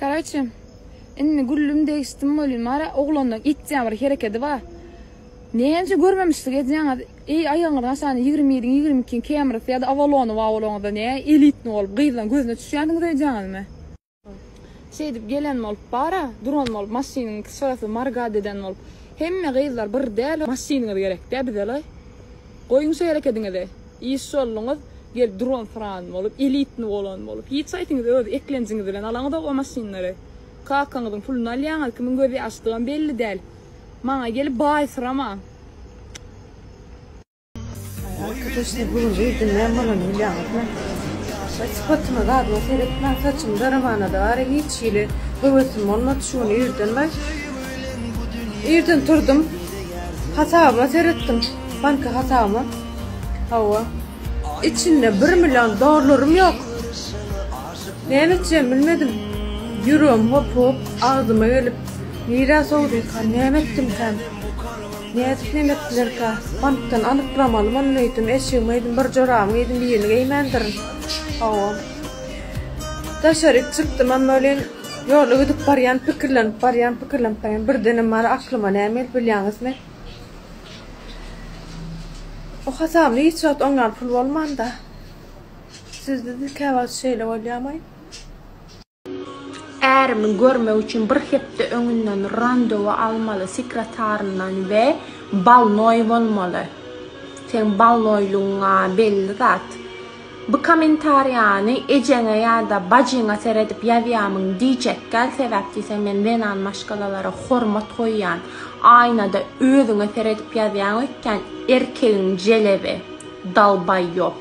Karaçe, indi güllüm degişdim welin bara oglandan itja bir herekedi bar. Näçe görmemişlik edýäňiz, eý aýagyňyz haçan ýigrimi biriň ýigrimi ikiň kemrisi ýa-da awalony bar bolaňyzda näe elitni bolup gyzlaň gözüne düşýänsiňiz öýdýäňizmi. Şeýdip gelen bolup bara, duran bolup maşynyň sferasyny margat eden bolup, hemme gyzlar bir däl maşynyňyz gerekdä bizelaý. Goýuň şu herekediňizi. Iş ýoluňyz gelip duran sran bolup, elitni bolan bolup. Hiç aýtiňiz öz eklenjiňiz bilen alaňyzok o maşynlary. Kakaňyzyň puluny alýaňyz, kimiň göz ýaşdygam belli däl. Maňa gelip baýsyramaň. Arkadaşlar bugün reýde näme bolany bilýäňizmi? Daş sypatyma zadyma seretmän saçymy daramanada bari hiç hili höwesim bolmady şu gün irden bay. Irden turdum. Hasabyma seretdim. Banka hasabyma. Hawa. Içinde bir million dollarym ýok. Näme etjegimi bilmedim. Ýüregim hop hop agzyma gelip, nirä sowdyka, näme etdimkäm? Nädip näme etdilerkä? Bankdan anyklamaly muny öýdüm, eşigimi öýdüm, bir jorabymy geýdim, birini geýmändirin. Hawa. Daşaryk çykdym, emma welin ýolda gidip barýan, pikirlenip barýan, pikirlenip barýan, birdenem mara aklyma näme gelip bilýäňizmi? O hasably hiç wagt oň ýaly pul bolmanda. Sizde-de käwagt şeýle bolýamaý? Ärimi görmek üçin bir hepde öňünden randewu almaly sekretaryndan we balnoý bolmaly. Seň balnoýlugyň-a belli zat. Bu komentariýany ejeňe ýada bajyňa seredip ýazýamyň diýjekgäl sebäp diýseň men zenan maşgalalara hormat goýýan aýnada özüňe seredip ýazýaň öýtýän erkegiň jelebi dalbaýop.